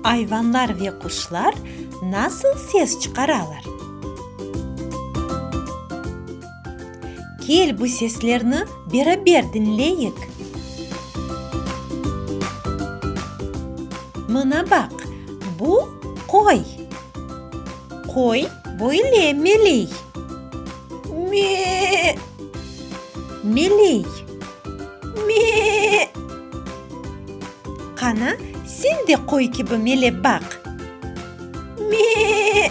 Ayvanlar ve quşlar nasıl ses çıqaralar? Kel, bu seslerni beraber diñleyik. Mına baq, bu, qoy. Qoy böyle meley. Me. Meley. Me. Qana, sen de qoy kibi melep baq. Me.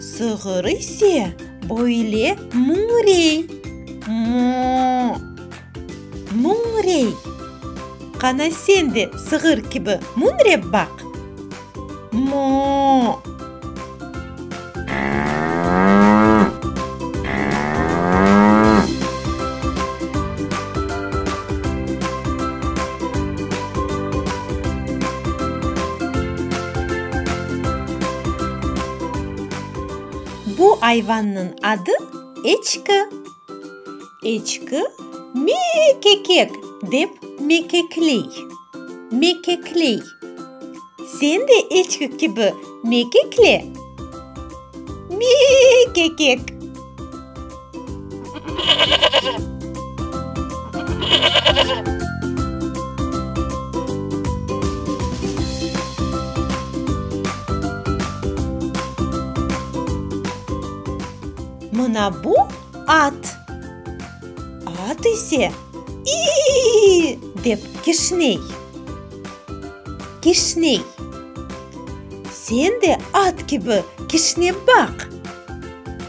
Sığır ise böyle mıñrey, moo. Mıñrey. Qana sen de sığır kibi mıñrep baq. Moo. Bu ayvannıñ adı eçki. Eçki me-e-e-kekek dep mekekley. Mekekley. Sen de eçki kibi mekekle. Me-e-e-e-kekek. Mına bu at. At ise, İiiiSen de at kibi kişnep baq!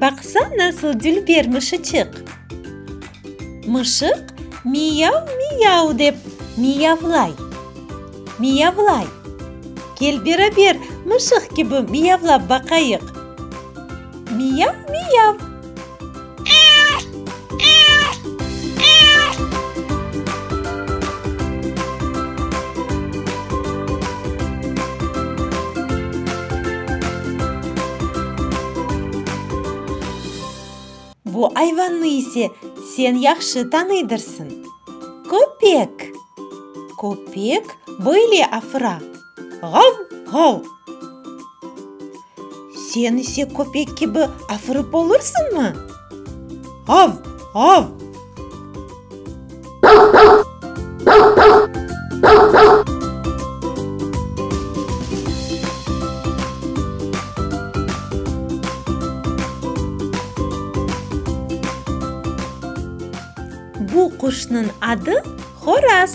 Baqsa nasıl dil ber mışıçıq. Mışıq miyav-miyav dep miyavlay. Miyavlay. Kel beraber mışıq kibi miyavlap baqayıq. Miyav-miyav. Bu ayvannı ise sen yahşı tanıydırsıñ. Köpek! Köpek böyle afıra. Ğav! Ğav! Sen ise köpek kibi afırıp olursıñmı? Ğav! Ğav! Bu quşnıñ adı Horaz.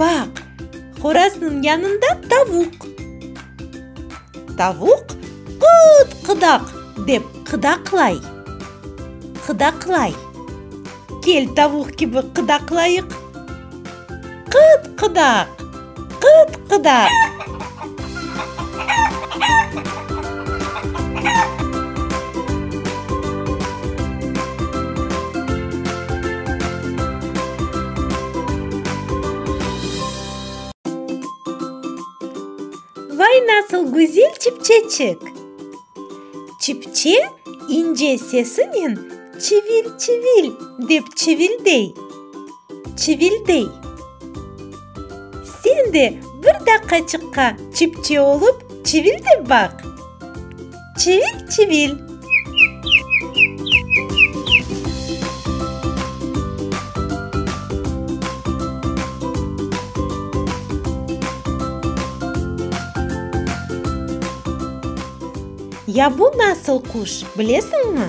Baq, horaznıñ yanında tavuq. Tavuq qıt-qıdaq dep qıdaqlay. Qıdaqlay. Kel, tavuq kibi qıdaqlayıq. Qıt-qıdaq. Qıt-qıdaq. Vay, nasıl güzel çipçeçik! Çipçe ince sesinen çivil-çivil dep çivildey. Çivildey. Sen de bir daqqaçıqqa çipçe olıp çivil dep baq. Çivil, çivil. Ya bu nasıl quş, bilesiñmi?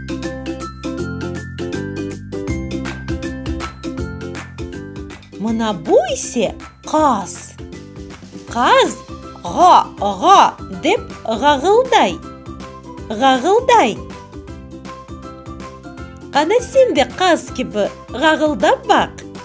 Mına bu ise qaz. Qaz ğa, ğa dep ğağılday, ğağılday. Qana sen de qaz kibi ğağıldap baq.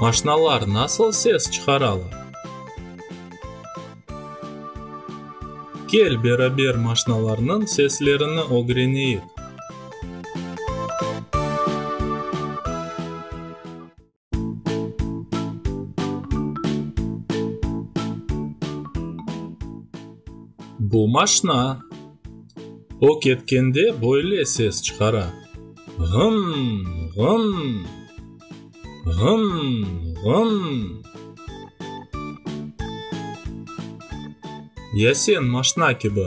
Maşnalar nasıl ses çıqaralar? Kel, beraber maşnalarnıñ seslerini ögreneyik. Bu maşna o ketkende böyle ses çıqara, Ğımm, ğımm, ğımm, ğımm. Ya sen maşna kibi.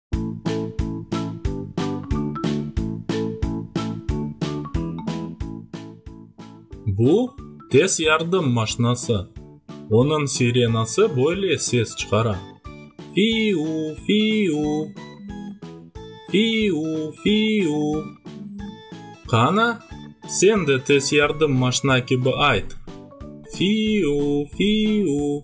Bu, tez yardım maşnası. Onıñ sirenası böyle ses çıqara, Fi-u, fi-u! Fi-u, fi-u! Qana, sen de tez yardım maşna kibi ayt, Fi-u, fi-u!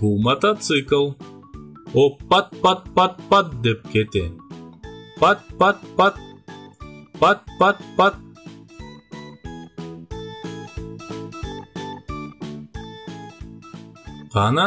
Bu mototsikl. O pat-pat-pat-pat dep kete. Pat-pat-pat. Pat-pat-pat. Qana,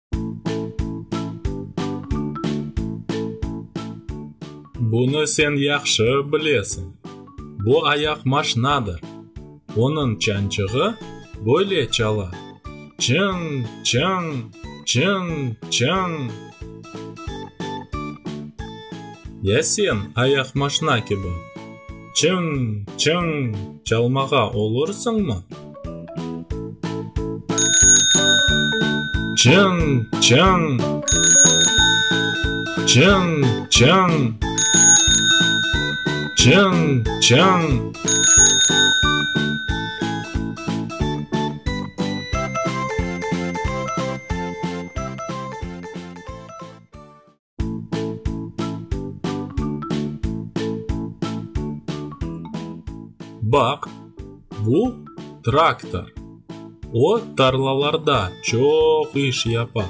Bunı sen yahşı bilesiñ. Bu ayaq maşnadır. Onıñ çançığı böyle çala, çıñ, çıñ, çıñ, çıñ. Ya sen ayaq maşna kibi? Çıñ, çıñ, çalmağa olursıñmı? Çıñ, çıñ. Çıñ, çıñ. Çıñ, çıñ. Baq, bu traktor. O, tarlalarda çoq iş yapa.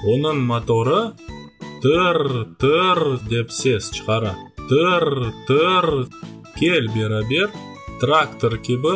Onıñ motorı tırr-tırr dep ses çıqara. Tırr-tırr. Kel beraber traktor kibi.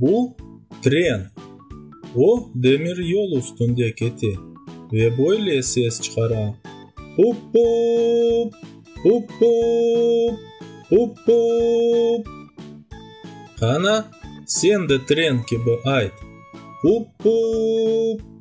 Bu, tren. O, demiryol üstünde kete ve böyle ses çıqara, Pup-pup! Pup-pup! Pup-pup! Qana, sen de tren kibi ayt, Pup-pup!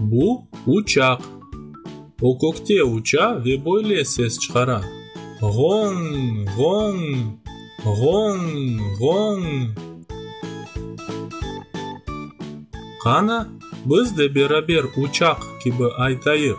Bu, uçaq. O kökte uça ve böyle ses çıqara, Ğoñ! Ğoñ! Ğoñ! Ğoñ! Qana, biz de beraber uçaq kibi aytayıq.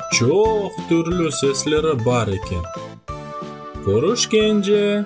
çoq türlü sesleri bar eken. Körüşkence!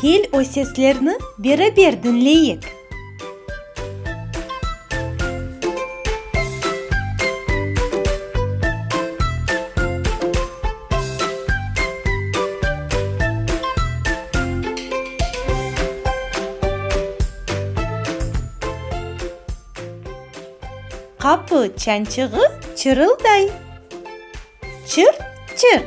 Kel, o seslerni beraber diñleyik. Qapı çançığı çırılday. Çırt, çırt.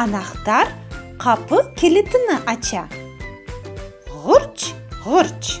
Anahtar qapı kilitini aça. Ğurç, ğurç.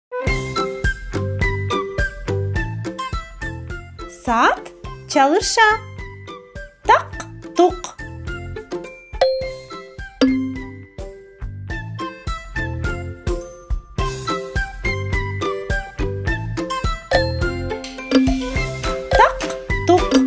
Saat çalışa. Taq-tuq. Taq-tuq.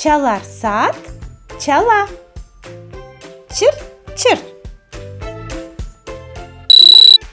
Çalar saat, çala. Çır, çır.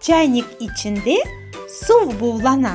Çaynik içinde suv buvlana.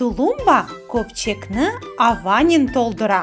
Tulumba köpçekni avanen toldura.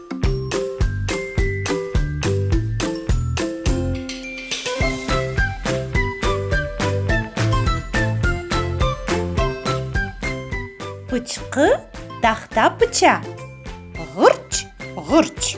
Pıçqı tahta pıça, ğırç, ğırç.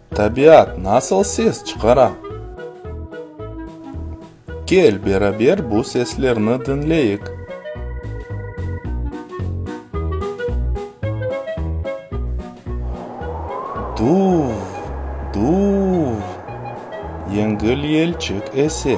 Tabiat nasıl ses çıqara? Kel, beraber bu seslerni diñleyik. Duv, duv, yengil yelçik ese.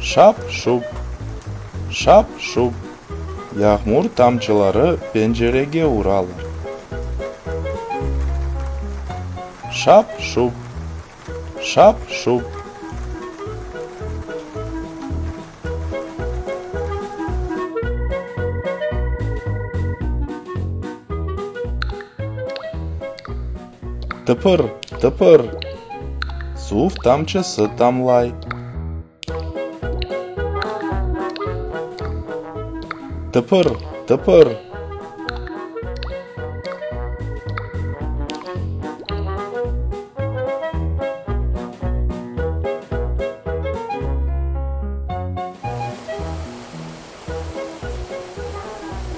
Şap-şup, şap-şup yağmur tamçıları pencerege uralar. Şap-şup, şap-şup. Tıpır, tıpır! Suv tamçısı tamlay. Tıpır, tıpır!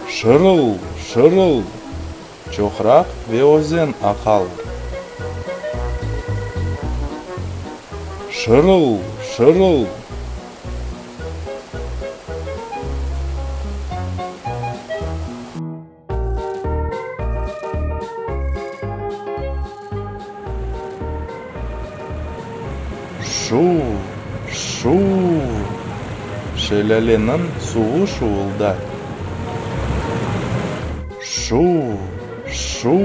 Şırıl! Şırıl! Çoqraq ve özen aqalar. Şırıl! Şırıl! Şuv-şuv! Şelâleniñ suvu şuvulda. Şuv-şuv!